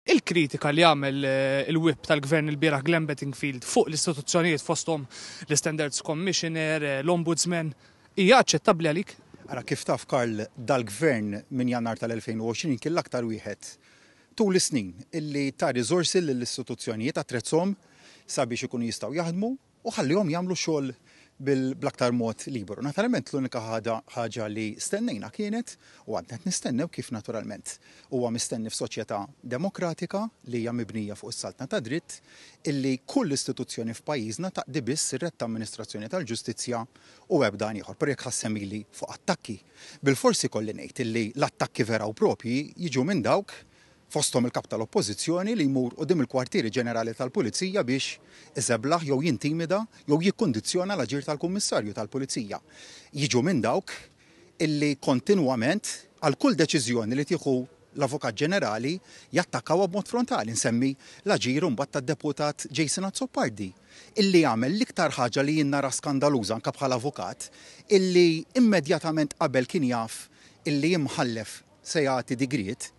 Il-kritika li għamel il-Whip tal-Gvern ilbieraħ Glenn Bettingfield fuq l-istituzzjonijiet fosthom l-Istandards Commissioner, l-Ombudsman, hija aċċettabbli għalik? Ara kif taf Karl, dal-Gvern minn Jannar tal-2020 kien l-aktar wieħed tul is-snin illi ta riżorsi lill-istituzzjonijiet, attrezzhom sabiex ikunu jistgħu jaħdmu, u ħallihom jagħmlu xogħol bl-aktar mod liberu. Naturalment l-unika ħaġa li stennejna kienet, u għadna qed nistennew kif naturalment huwa mistenni f'soċjetà demokratika li hija mibnija fuq is-saltna tad-dritt, illi kull istituzzjoni f'pajjiżna taqdi biss ir-red ta' amministrazzjoni tal-ġustizzja u ebda għan ieħor. Però jekk ħa ssemmili fuq attakki, bilfors ikolli ngħid illi l-attakki vera u proprji jiġu minn dawk fosthom il-Kap tal-Oppożizzjoni li jmur quddiem il-kwartieri ġenerali tal-Pulizija biex iżeblaħ jew jintimida jew jikkundizzjona l-aġir tal-Kummissarju tal-Pulizija, jiġu minn dawk illi kontinwament għal kull deċiżjoni li tieħu l-Avukat Ġenerali jattakkawha b'mod frontali. Nsemmi l-aġir imbagħad tad-Deputat Jason Azzopardi illi għamel l-iktar ħaġa li jien nara skandaluża anke bħala avukat illi immedjatament qabel kien jaf illi imħallef se jagħti digriet,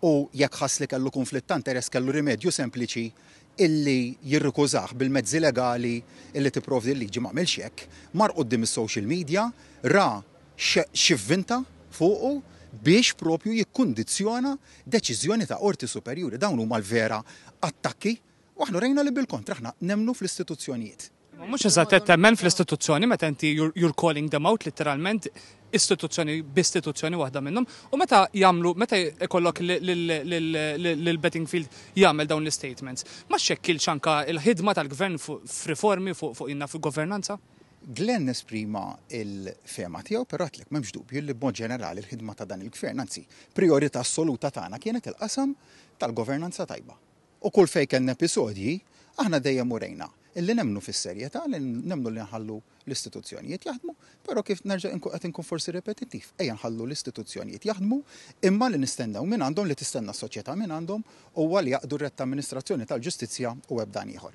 u jekk ħass li kellu kunflitt ta' interess kellu rimedju sempliċi illi jirrikużah bil-mezzi legali illi tipprovdi l-liġi m'għamilx hekk, mar quddiem is-social media, ra x'ivvinta fuqu biex propju jikkundizzjona deċiżjoni ta' qorti superjuri. Dawn huma l-vera attakki. U aħna rejna li bil-kontra aħna nemmnu fl-istituzzjonijiet. Imma mhux eżatt qed temmen fl-istituzzjoni meta inti you're calling them out litteralment istituzzjoni b'istituzzjoni waħda minnhom u meta jagħmlu meta jkollok lil Bettingfield jagħmel dawn l-istatements ma xxekkilx anke l-ħidma tal-Gvern f'riformi fuq inna f'governanza? Glenn esprima l-fehma tiegħu però għedtlek m'hemmx dubju li b'mod ġenerali l-ħidma ta' dan il-Gvern anzi priorità assoluta tagħna kienet il-qasam tal-governanza tajba. U kull fejn kellna episodji, aħna dejjem urejna li nemmnu fis-serjetà, li nemmnu li nħallu l-istituzzjonijiet jaħdmu, però kif nerġa' inkun qed inkun forsi ripetittiv, ejja nħallu l-istituzzjonijiet jaħdmu, imma li nistennew mingħandhom, li tistenna s-soċjetà mingħandhom, huwa li jaqdu r-retta amministrazzjoni tal-ġustizzja u ebdan ieħor.